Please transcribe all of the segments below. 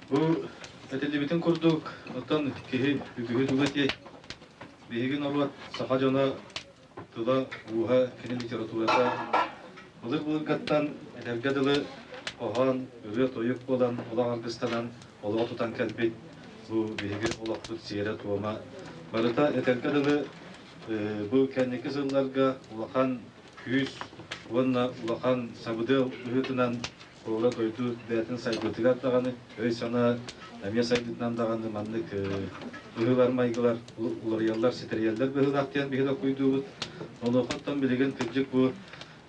Бу этиллибитин курдук, оттон киһи үгүһү туга этиэй? Биһиги норуот саха дьоно тыла-ууһа, кини литературата былыр-былыргаттан этэргэ дылы хоһоон, ырыа-тойук буолан, олох аргыстанан олоҕу тутан кэлбит бу биһиги олохпут сиэрэ-туома барыта этэргэ дылы бу кэнники сылларга улахан күүс уонна улахан сабыдыал быһыытынан Оруола дойду бэйэтин сайдыытыгар даҕаны, өй-санаа эмиэ сайдыытынан даҕаны маннык быһыылар, майгылар уларыйаллар, ситэрийэллэр быһыылаах диэн биһи докуйдуубут. Онуохаттан билигин кырдьык бу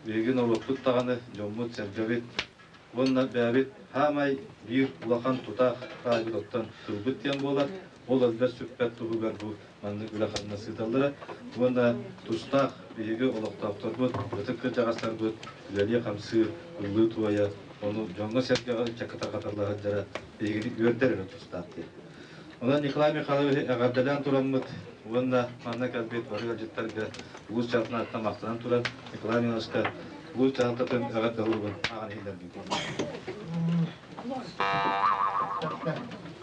биһиги норуоппут даҕаны, дьоммут-сэргэбит уонна бэйэбит саамай биир улахан тутаах паайбыт оттон сылбыт диэн буолар, Ол албар сүппэт туһугар бу маннык үлэ-хамнас ыыталлара уонна тустаах биһиги олохтоохторбут, ытык кырдьаҕастарбыт үлэлиир-хамсыыр, ыллыы-туойа, ону дьоҥҥо-сэргэҕэ ыччакка тарҕаталла сылдьара биһигини үөрдэр эрэ тустаах диэн. Онон Николай Михайлович эҕэрдэлээн тураммыт уонна манна кэлбит бары ыалдьыттарга уус чаҕытын аттан махтанан туран Николай Михайловичка уус дьаһалтатын эҕэрдэ уругун ааҕан иһиллэрбит.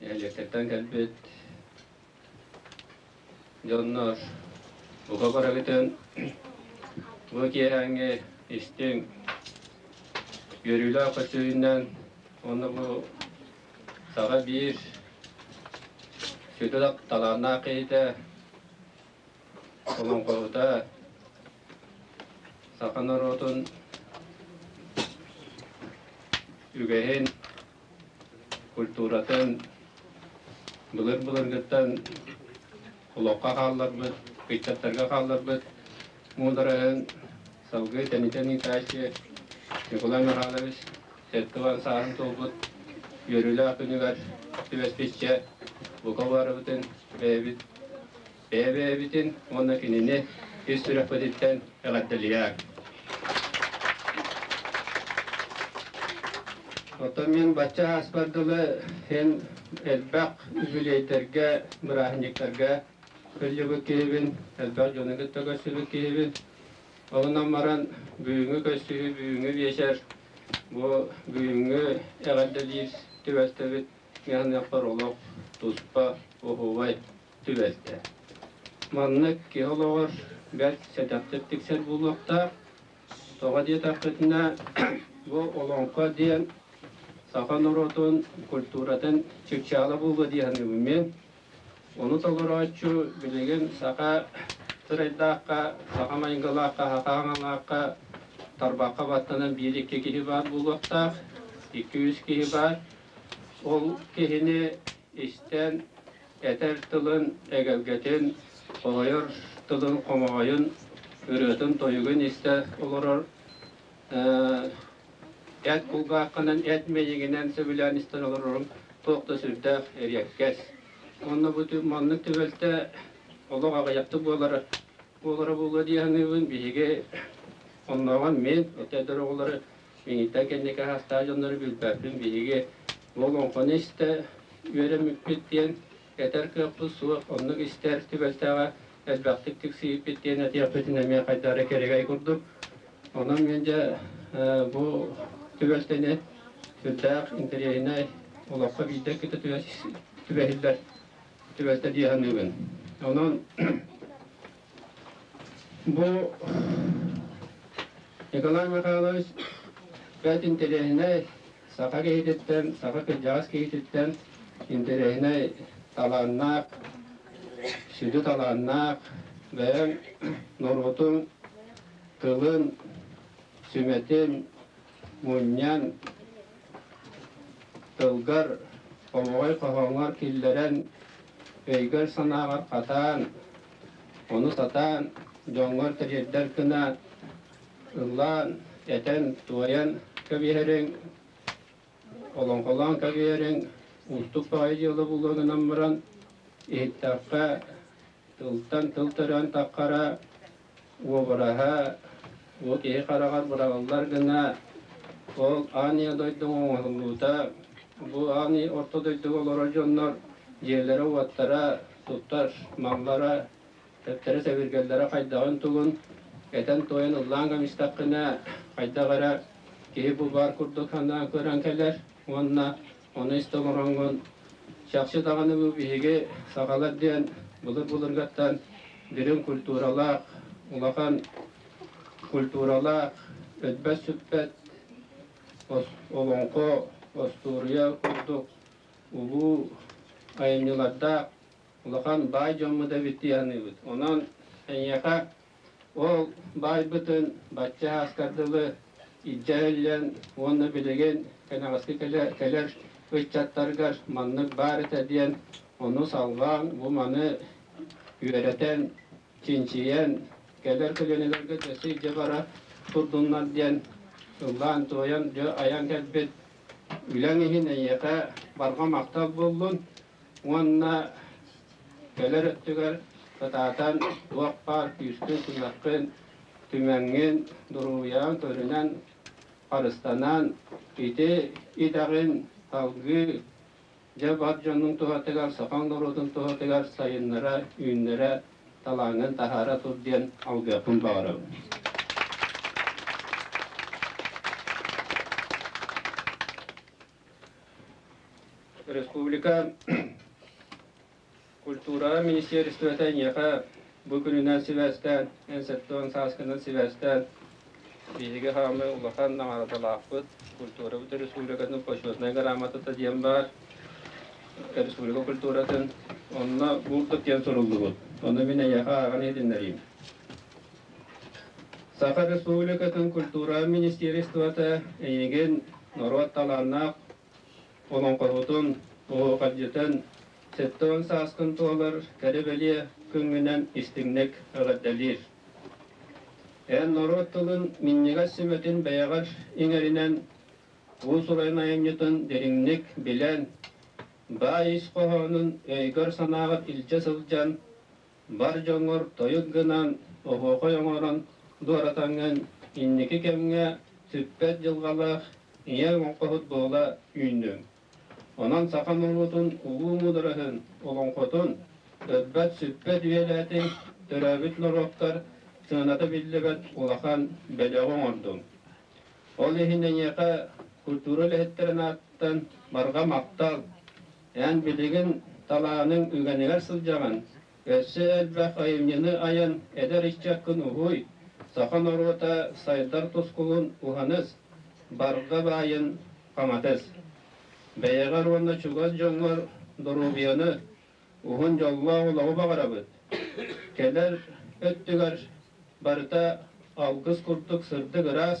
Эдьиктэртэн кэлбит дьоннор бука барыгытын бу киэһээҥҥи истиҥ үөрүүлээх көстүүнүнэн уонна бу саҕа биир сүдү талааннаах киһитэ олоҥхоһута саха норуотун үгэһин культуратын былыр-былыргыттан олоххо хаалларбыт, ыччаттарга хаалларбыт муудараһын салгыы Тэнитэн ыытааччы Николай Михайлович сэттэ сааһын туолбут үөрүүлээх күнүгэр түбэспиччэ бука уларыбытын бэйэбит Эбээбитин уонна кинини ис сүрэхпититтэн эҕэрдэлиьээр. Оттон мин бачча ааспар дылы эн элбэх үбүлүөйдэргэ, бырааһынньыктарга кыалльыбыт киһибин, элбэх дьону кытта көрсүбүт киһибин. Онон баран бүгүҥҥү көрсүһүү бүгүҥҥү биэчэр бу бүгүҥҥү эҕэрдэлиир түбэлтэбит миэхэ олох туспа, уһуубай. түбэлтэ. Маннык киһи олоҕор бэрт сэтэхтик тиксэр буолуохтаах. Тоҕо диэтэхпитинэ, бу олоҥхо диэн саха норуотун культуратын чыпчаала буолуо дии саныыбын мин. Ону толорооччу билигин саха сырайдаахха, саха майгылаахха, хахааҥалаахха, тарбахха баттанан биир-икки киһи баар буолуохтаах, икки-үс киһи баар. Ол киһини истэн, Этэр тылын эгэлгэтин, хомойор тылын хомоҕойун, ырыатын-тойугун истэ олорор. Эт кулгааххынан, эт мэйигинэн сөбүлээн истэн олорорун туох да сүрдээх эриэккэс. Онно бу маннык түбэлтэ олох аҕыйахтык буолара буолара буолуо дии саныыбын. Биһиги оннооҕор мин, өтөр оҕолору Киниттэн кэнники саастаах дьоннору билбэппин биһиги уол оҥхону истэ үөрэммиппит диэн, этэр кыахпыт суох, оннук истэр түбэлтэҕэ элбэхтик тиксиһииппит диэн этиэхпитин эмиэ хайдах эрэ кэрэгэй курдук. Онон мин дьэ бу түбэлтэни сүрдээх интэриэһинэй олоххо биирдэ кытта түбэһиллэр түбэлтэ дии саныыбын. Онон Бу Николай Михайлович бэрт интэриэһинэй саха киһититтэн, саха кырдьаҕас киһититтэн интэриэһинэй талааннаах, сүдү талааннаах, бэйэҥ норуотун тылын, сүмэтин мунньан, тылгар, омоҕой хоһооҥор киллэрэн, өйгөр-санааҕар хатаан, Ону сатаан, дьоҥҥор тириэрдэр гынаат, ыллаан, этэн, туойан кэбиһэриҥ, олоҥхолоон кэбиһэриҥ, уустук баҕайы дьыала буолуо гынан баран, иһиттэххэ, тылтан тыл төрөөн таххара, Уобараһа бу киһи хараҕар быраҕыллар гына ол аанньа дойдуҥ оҥоһуллуута. Бу аанньа орто дойдуга олорор дьоннор дьиэлэрэ-уоттара, туттар маллара, төттөрө-сэбиргэллэрэ хайдаҕын-тугун этэн-туойан ыллаан кэбистэххинэ, хайдах эрэ киһи бу баар курдук санаан көрөн кэлэр уонна Ону истэ олороҥҥун, чахчы даҕаны бу биһиги, сахалар диэн былыр-былыргаттан дириҥ культуралаах, улахан культуралаах, өтбэт-сүппэт олоҥхо, остуоруйа курдук улуу айымньылардаах улахан баай дьоммут эбит дии саныыбыт. Онон эйиэхэ Ол баайбытын бачча ааскар дылы илдьэ иһиллэн уонна билигин кэнэҕэски кэлэр ыччаттаргар маннык баар этэ диэн ону салҕаан, бу маны үөрэтэн, чинчийэн, кэлэр көлүөнэлэргэ да сылдьа бара турдуннар диэн ыллаан-туойан айан кэлбит үлэҥ иһин эйиэхэ барҕа махтал буоллун, уонна кэлэр өттүгэр ытаатан туох баар күүскүн-күрэххин түмэҥҥин дуруһуйаҕын көрүнэн харыстанан ити идэҕин салгыы дьэ бар дьонун туһатыгар сокол норуотун туһатыгар сайыннара үүннэрэ талааҥҥын таһаара тур диэн алгыахпын баҕарабын Республика культура министерствота эйиэхэ бу күнүнэн сибээстээн, эн сэттэ уон сааскынан сибээстээн, биһиги хаамы улахан наҕараадалаахпыт, культурабыт республикатын почетнай грамотата диэн баар, республика культуратын, онно булдут диэн суруллубут. Ону мин эйиэхэ ааҕан иһитиннэриим. Саха Республикатын культура министиэристибэтэ эйигин норуот талааннаах олоҥхоһутун оһуохайдьытын сэттэ уон сааскын туолар кэрэ-бэлиэ күҥҥүнэн истиҥник эҕэрдэлиир. Эн норуот тылын минньигэс сүмэтин бэйэҕэр иҥэринэн уус-уран айанньытын дириҥник билэн, баай ис хоһоонун өйгөр-санааҕар илдьэ сылдьан, бар дьоҥҥор тойут гынан, оһуохай оҥорон дуоратаҥҥын инники кэмҥэ сүппэт дьылҕалаах ийэ олоҥхоһут буола үүннүҥ. Онон саха норуотун улуу муудараһын олоҥхотун, ырбат-сүппэт үйэлээтиҥ, төрөөбүт норуоттар сыаната биллибэт улахан бэлэҕи оҥордуҥ. Ол иһин эйиэхэ культура үлэһиттэрин ааттан барҕа махтал, Эн билигин талааныҥ үгэнигэр сылдьаҕын, өссө элбэх айымньыны айан эдэр ыччаккын уһуй, саха норуота сайдар тускулун уһаныс, барҕа баайын хаҥатыс. Бэйэҕэр уонна чугас дьоҥҥор доруобуйаны, уһун дьоллоох олоҕу баҕарабыт. Кэлэр өттүгэр барыта алгыс курдук сырдык-ыраас,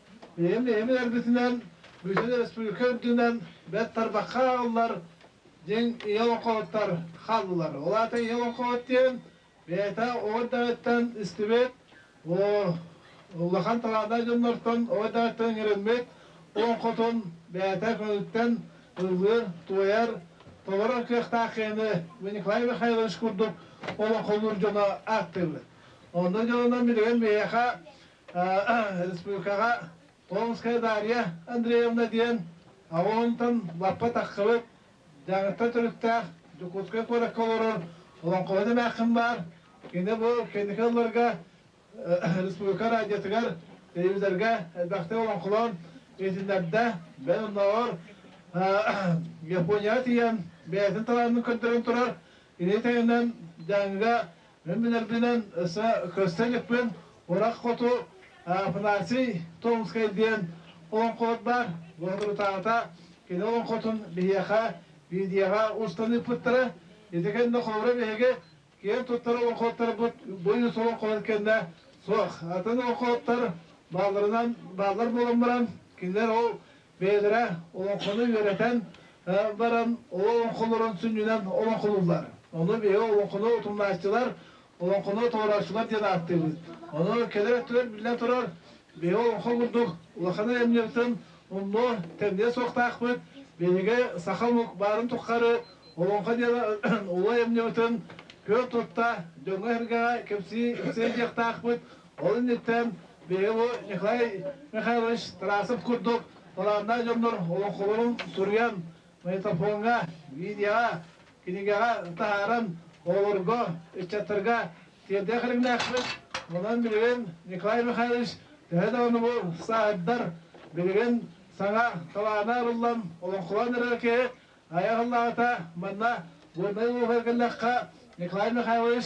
Ийэм бэйэбин эргитинэн бүтүн республика үрдүнэн бэрт тарбахха ааҕыллар, диэн ийэ олоҥхоһуттар хааллылар. Ол аата ийэ олоҥхоһут диэн бэйэтэ оҕо эрдэҕиттэн истибит, улахан талааннаах дьоннортон оҕо эрдэҕиттэн иҥэрэммит олоҥхотун бэйэтэ көҥүлтэн ыллыыр, туойар, толорор кыахтаах киһини Николай Михайлович курдук олоҥхолуур дьоно ааттыыбыт. Онно дьонунан билигин биһиэхэ республикаҕа Толонская Дарья Андреевна диэн аҕа уонтан лаппа тахсыбыт Дьааҥыттан төрүттээх Дьокуускай куоракка олорор олоҥхоһут эмээххин баар. Кини бу кэнники сылларга республика радиотыгар, телевизорга элбэхтик олоҥхолоон иһитиннэрдэ. Бэл оннооҕор Японияҕа тиийэн бэйэтин талаанын көрдөрөн турар Ити таһынан Дьааҥыга мин билэрбинэн өссө көстө иликпин, Урах хоту Афанасий Томскай диэн олоҥхолор баар, лоһурутаата кини олоҥхотун биһиэхэ видеоҕа устан ыыппыттара. Ити кэннэ холобура биһиги киэн туттар олоҥхотторбут быйыс олоҥхолорун кэннэ суох атын олоҥхоттор баалларынан бааллар буолан баран кинилэр ол бэйэлэрэ олоҥхону үөрэтэн баран олоҥхолорун сүнньүнэн олоҥхолууллар. Ону биһиги олоҥхону утумнааччылар, олоҥхону толорооччулар диэн ааттыыбыт. Ону кэлэр өттүгэр биллэн турар, биһиги олоҥхо курдук улахан айымньыбытын умнуо тэмниэ суохтаахпыт. Биһиги саха омук баарын туххары олоҥхо диэн улуу айымньыбытын күөн тутта дьоҥҥо-сэргэҕэ кэпсии диэхтаахпыт. Ол инниттэн биһиги Николай Михайлович Тарасов курдук талааннаах дьоннор олоҥхолорун суруйан, магнитофоҥҥа, видеоҕа, кинигэҕэ таһааран, оҕолорго, ыччаттарга тиэрдиэх эрэҥнээхпит. Онон билигин Николай Михайлович төһө даҕаны бу сааһырдар, билигин саҥа талаана арыллан олоҥхолоон эрэр киһи айар аллаҕата манна Горнай улууһугар кэллэххэ, Николай Михайлович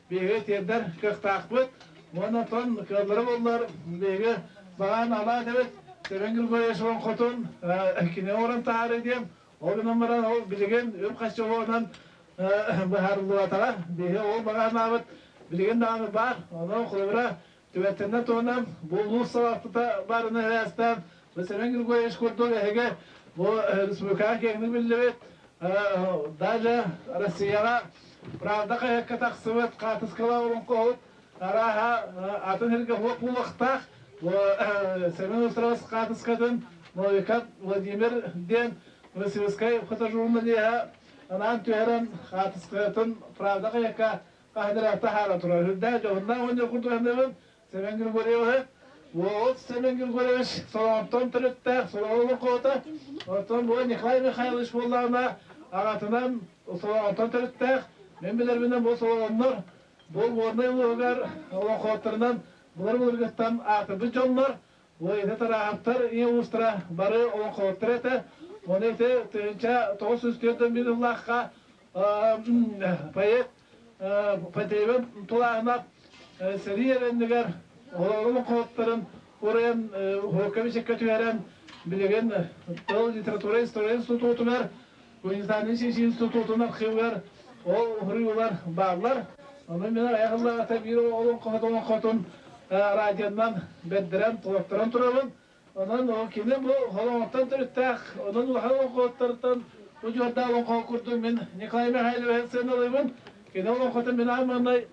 биһиги тиэрдэр кыахтаахпыт уонна тон кыаллара буоллар биһиги баҕаан алаат эбит Севен Григорьевичевын хотун кинини орон таары диэн ол гынан баран ол билигин үп хаччоҕонан быһаарыллыбатаҕа биһиги ол баҕанаабыт билигин даҕаны баар ону холобура Түбэлтэннэ туһунан буолуу салалтата баарын эһээстээн Василин Григорьевич курдук эһиги бу республикаҕа киэҥник биллибит, далее Россияҕа правда хайыакка тахсыбыт хаартыскалаах олоҥхоһут арааһа атын сиргэ суох буолуохтаах. Бу Семен Устроевс хаартыскатын Новиков Владимир диэн Васильскай фотожурналиһа анаан түһэрэн хаартыскатын правда хайыакка Таһыгар таһаара турар үрдээх дьоһуннаах оонньуу курдуһаныаҕын Семен Григорьевы Волод Семен Григорьевич Солоҕоттон төрүттээх Солоҕо олоҥхоҕото, оттон буола Николай Михайлович буоллаҕына аҕатынан Солоҕоттон төрүттээх, мин билэрбинэн бу Солоҕоннор бу Горнай улууһугар олоҥхоһуттарынан былыр-былыргыттан аатырбыт дьоннор Ити тырааһаптар ийэ уустара бары олоҥхолоттор этэ. Ону ити тыһыынча тоҕус сүүс түөрт миллион ыллаахха проект Потребен тулааһына сэрии эрэннигэр олоҥхолоттарын урайан уһуокка бэчэккэ түһэрэн билигин тыл литература история институтугар Муниципальнай сис институтун архивыгар ол суруйуулар бааллар. Ону мин айах ыллаҕата биир олоҥхотун радионан бэрдэрэн, туоттаран турабын. Онон кини бу олоҥхоттон төрүттээх, онон улахан олоҥхоттортон удьуордаах олоҥхоҕо курдук мин Николай Михайловиһы сыаналыыбын. Кини олоҥхотун мин аан маҥнай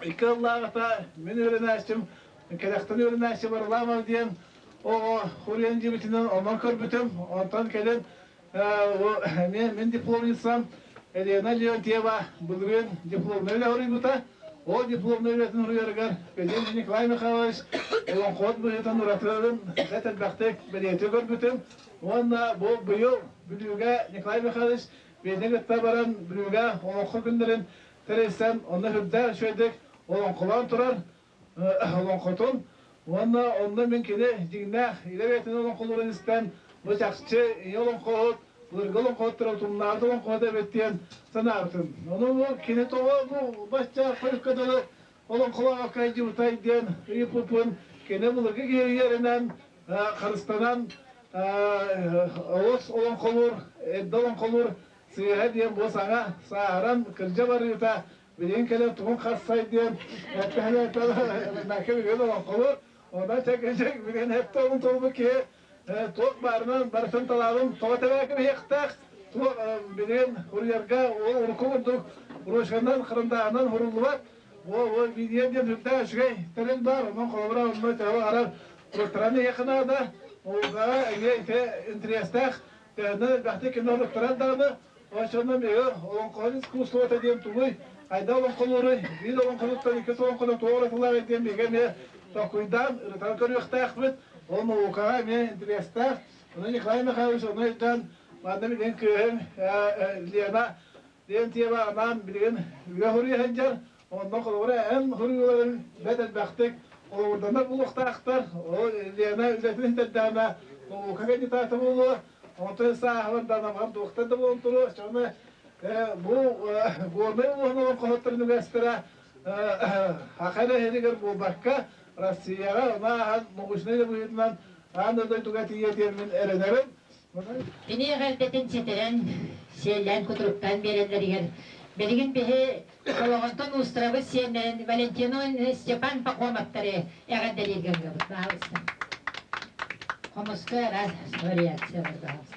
Икки ыллааҕыта мин үөрэнээччим, кэрэхтэн үөрэнээччи Варламов диэн оҕо хуриан дьиибитинэн онон көрбүтүм. Онтон кэлин мин дипломницам Елена Леонтьева былырыын дипломнай үлэ хоруйбута. Ол дипломнай үлэтин хоруйарыгар Пеленин Николай Михайлович олоҥхоот быһыытын уратыларын бэрт элбэхтик бэлиэтии көрбүтүм. Уонна бу быйыл Бүлүүгэ Николай Михайлович Пелени кытта баран Бүлүүгэ олоҥхо күннэрин тэрилсэн онно үрдээн үчүгэйдик олоҥхолоон турар олоҥхотун уонна онно мин кини дьиҥнээх илэ бэйэтин олоҥхолуурун истэн бу чахчы ийэ олоҥхоһут былыргы олоҥхоһуттара утумнаабыт олоҥхоһут эбит диэн санаабытым ону кини тоҕо бу бачча хойукка дылы олоҥхолоох кайдьыбытай диэн ыйыппыппын кини былыргы киһиэринэн харыстанан олус олоҥхолуур эрдэ олоҥхолуур Сыыһа диэн бу саҥа сааһыран кырдьа барыыта билигин кэлэр тугун хассай диэн эппэһэлээтэ накырыгын олоххолу онно чэкэчэк билигин эптэ олун тобулбут киһи туох баарынан барытын талаалым тоҕо тэбээким иһиэхтээх туох билигин курьерга урукку курдук брошканан хырындааһынан хуруллубат бу видео диэн үрдээх үчүгэй тэрил баар онон холобура онно төһө арар туоктараны иһиэхэ наада олга эмиэ ити интерестээх Аны элбэхтик кино ырыттарар даҕаны, онсонно миэхэ олоҥхоһут искусствота диэн тугуй, хайдах олоҥхолуоруй, биир олоҥхоһуттан иккис олоҥхону туох уратылааҕый диэн миэхэ эмиэ токкуйдаан ырытан көрүөхтээхпит. Ол наукаҕа эмиэ интэриэстээх. Аны Николай Михайлович ону өйдөөн манна билигин кыыһым Лена Диэн тиэмэ анаан билигин үөһ-уруу сылдьар, онно холобура эн суруйууларыҥ бэрт элбэхтик холобурданар буолуохтаахтар. Ол Лена үлэтин ситэрдэҕинэ полука кандидата буолуо, оттон сааһылар даналар доктор да буолан туруо, чоҕуна бу Горнай улууһун олоҥхоһуттарын үгэстэрэ аха эрэ иһигэр буолбакка, Россияҕа аны ааһан научнай да быһыытынан аан дойдуга тиийэ диэммин эрэнэрим. Киниэхэ эрдэтин ситэрэн, сиэллээн-кутуруктаан биэрэллэригэр, билигин биһи Солоҕонтон уустарабыт сиэннэрин Валентиновы Степан Пахомовтары эҕэрдэлииргэ ыллыбыт баһаалыста. Хомуска вариациялар баһаалыста.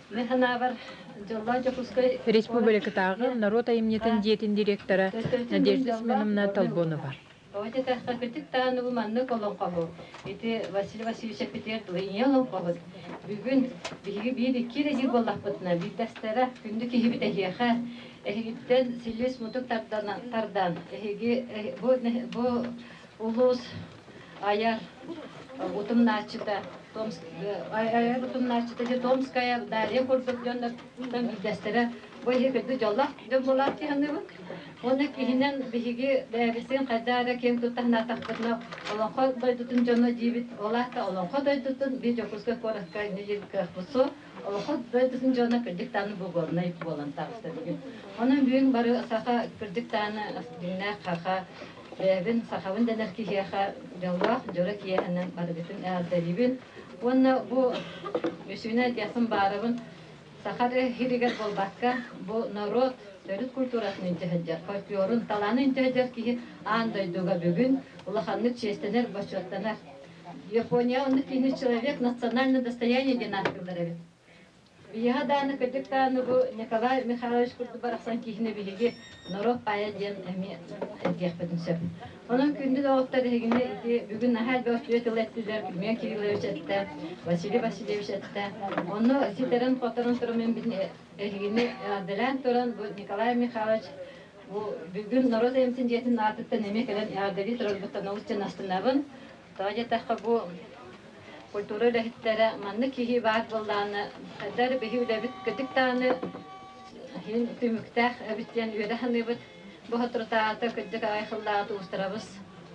Мы санаабар, Дьоллоох Дьокуускай Республикатааҕы норуот айымньытын дьиэтин директора Надежда Семеновна Толбонова. Бу этээхтэхпитик даҕаны бу маннык олоҥхоһу ити Василий Васильевичеппитигэр дуо ийэ олоҥхоһут бүгүн, биһиги биир-икки эрэ диир буоллахпытына, биирдэстэрэ күндү киһибит эһиэхэ эһигиттэн силис-мутук тардан, эһиги бу улуус Айар утумнааччыта Айар утумнааччыта же Томская Дарья курдук дьоннортон биирдэстэрэ бу эһиги курдук дьоллоох дьон буолаат дии саныыбын. Уонна киһинэн биһиги бэйэбитин хайдах эрэ киэн туттарнаатахпытына Олоҥхо дойдутун дьоно диибит, ол аата Олоҥхо дойдутун биир Дьокуускай куоратка Ньиик Кыахпусу Олоҥхо дойдутун дьоно кырдьык даҕаны бугуорунай буолан таҕыста бүгүн. Онон бүгүн бары саха кырдьык даҕаны дьиҥнээх хаха Бэйэбин сахабын дэнэр киһиэхэ дьоллоох дьоро киэһэнэн барыгытын эҕэрдэлиибин уонна бу үсүөнү айтыахпын баарабын Саха РХИ-ригэр буолбакка, бу норуот төрүт культуратын инчэһэдьэр, фольклорун, талааны инчэһэдьэр киһи аан дойдуга бүгүн улаханнык чиэстэнэр, бочуоттанар. Япония оннук киһини человек национальное достояние диэн ааттыыллар эбит. Биһиэхэ даҕаны кырдьык даҕаны бу Николай Михайлович курдук барахсан киһини биһиги норуот поэт диэн эмиэ этиэхпитин сөп. Онон күндү доҕоттор эһигини ити бүгүн наһаа элбэх үтүө тыл эттилэр Күмүөн Кириллович эттэ, Василий Васильевич эттэ. Онно ситэрэн-хоторон туран мин эһигини эҕэрдэлээн туран бу Николай Михайлович бу бүгүн норуот эмсин дьиэтин аатыттан эмиэ кэлэн эҕэрдэлии турарбыттан олус чанастанабын. Тоҕо диэтэххэ, бу культура үлэһиттэрэ маннык киһи баар буоллаҕына, хайдах эрэ биһи үлэбит кытык даҕаны иһин түмүктээх эбит диэн үөрэ саныыбыт. Бу соторутааҕыта кырдьык аҕай хыллаҕыт уустарабыс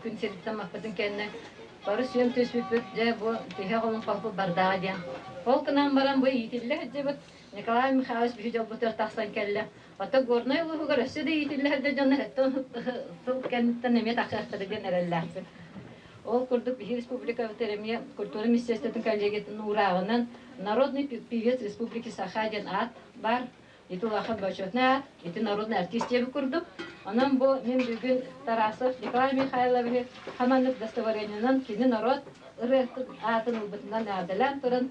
күн сириттэн маппытын кэннэ бары сүөм түспүппүт дьэ бу тиһэ олоҥхоһуппут бардаҕа диэн. Ол гынан баран бу иитиллэ сылдьыбыт Николай Михайлович биһи дьолбутугар тахсан кэллэ. Хата Горнай улууһугар өссө да иитиллэһэрдэ дьон сыл кэнниттэн эмиэ тахсыахтара диэн эрэллээхпин. Ол курдук биһи республикабыт эмиэ культура министерствотын коллегиятын уурааҕынан Народный певец республики Саха диэн аат баар. Ити улахан бочуотунай аат, ити народный артист диэбит курдук. Онон бу мин бүгүн Тарасов Николай Михайловиһы хаманнык достоворениенан кини норуот ырыатын аатын ылбытынан наадалаан туран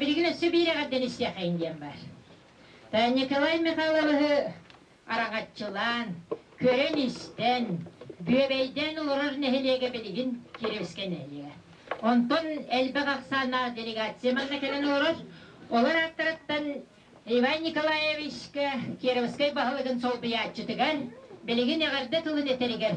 Билигин өссө биир эҕэрдэлисиэхэйин диэн баар. Николай Михайловиһы араҥаччылаан, көрөн-истэн, Бүөбэйдээн олорор нэһилиэгэ билигин Кириэскэ нэһилиэгэ. Онтон элбэх ахсааннаах делегация манна кэлэн олорор. Олор ааттарыттан Иван Николаевичка Кировскай баһылыгын солбуйааччытыгар, билигин эҕэрдэ тылын этэригэр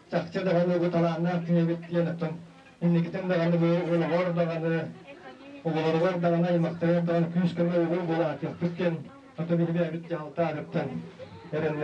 Чахчы даҕаны бу талааннаах киһи эбит диэн оттон инникитин даҕаны бу оҕолоругар даҕаны, оҕолоругар даҕаны, аймахтарыгар даҕаны күүс-көмө угул буолаатыахпыт диэн, хата биһиги эбит дьаһалтаабыттан эрэннибит.